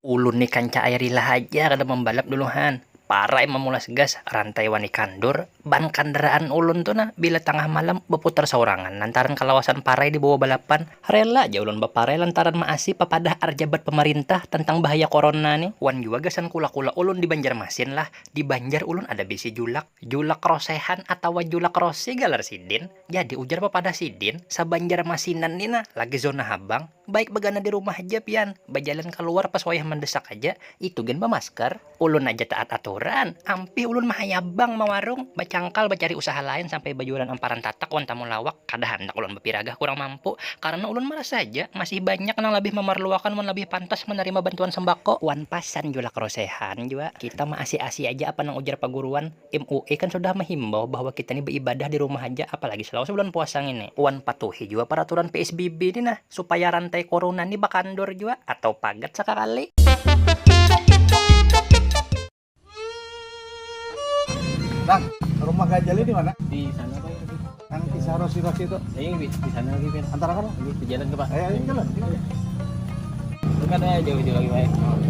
Ulun ni kanca'ai rila haja kada mambalap dulu han, parai mamulas gas, rantai wani kandur, ban kandaraan ulun tu nah bila tangah malam baputar saurangan lantaran kalawasan parai di bawah balapan, rela ja ulun baparai lantaran maasi papadah arjabat pamarintah tantang bahaya korona ni, wan jua gasan kula-kula ulun di Banjarmasin lah, di Banjar ulun ada bisi julak, julak rosehan atawa julak rose galar sidin. Jadi ujar papadah sidin, sabanjarmasinan ni nah lagi zona habang, baik bagana di rumah haja pian, bajalan kaluar pas wayah mandesak haja, itu gin bamasker, ulun haja taat aturan, ampih ulun mahayabang mawarung, bacangkal bacari usaha lain sampai bajualan amparan tatak wan tamulawak, kada handak ulun bapiragah kurang mampu, karna ulun marasa haja masih banyak nang labih mamarluakan wan labih pantas manarima bantuan sembako. Wan pas san julak rosehan jua kita maasi-asi haja apa nang ujar paguruan. MUI kan sudah mahimbau bahwa kita ni baibadah di rumah haja, apalagi selawase bulan puasa ngini. Wan patuhi jua paraturan PSBB ni nah, supaya rantai corona ni bakandur jua atau pagat sakakali. Bang, rumah Gajali di mana? Di sana Pak Irfan. Yang kisah Rosi-Rosi itu? Iya, di sana lagi Pak. Antar apa? Ini berjalan ke Pak. Ayo, ayo jalan. Bukan ya, jauh-jauh lagi Pak.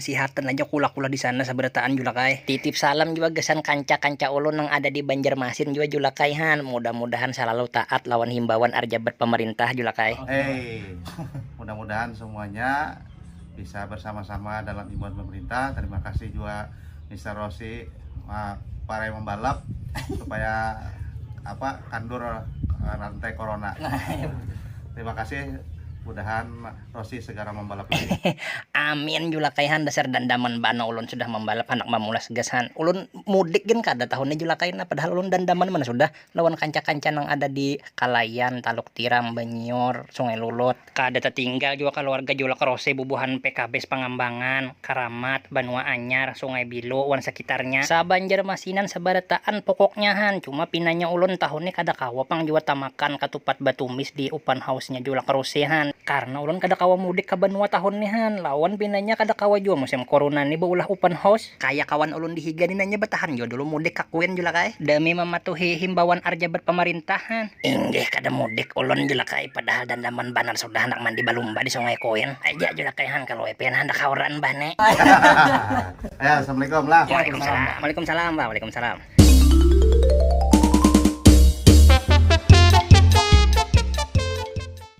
Sihatan aja kula-kula di sana sabarataan Julak ai. Titip salam jua gasan kanca-kanca ulun nang ada di Banjarmasin jua Julak ai han, mudah-mudahan salalu taat lawan himbauan arjabat pamarintah Julak ai. Hey, mudah-mudahan semuanya bisa bersama-sama dalam himbauan pemerintah, terima kasih jua Mister Rossi parai membalap supaya apa kandur rantai corona. Terima kasih, mudahan. Rossi segara mambalap lagi. Amin julakai han dasar dandaman bana ulun sudah mambalap handak mamulas gas han. Ulun mudik gin kada tahun ni julakai nah padahal ulun dandaman banar sudah lawan kanca-kanca nang ada di Kalayan, Taluk Tiram, Banyior, Sungai Lulut. Kada tatinggal jua kaluarga julak Rossi bubuhan PKBS Pangambangan. Karamat, Banua Anyar, Sungai Bilo, wan sakitarnya. Sabanjarmasinan sabarataan pokoknya han, cuma pinanya ulun tahun ni kada kawa pang jua tamakan katupat batumis di Open House-nya Julak Ruse han, karna ulun kada kawa mudik ka banua tahun ni han, lawan pinanya kada kawa jua musim Corona ni baulah Open House. Kaya kawan ulun di higa ni nanya batahan jua dulu mudik ka Queen Julak ai, demi mamatuhi himbauan ar jabat pamarintah han. Inggih kada mudik ulun Julak ai, padahal dandaman banar sudah handak mandi balumba di Sungai Queen. Aja aja nak kaihan kalau WP nah handak hauran bah ne. ya, assalamualaikum lah. Waalaikumsalam. Waalaikumsalam bah. Waalaikumsalam.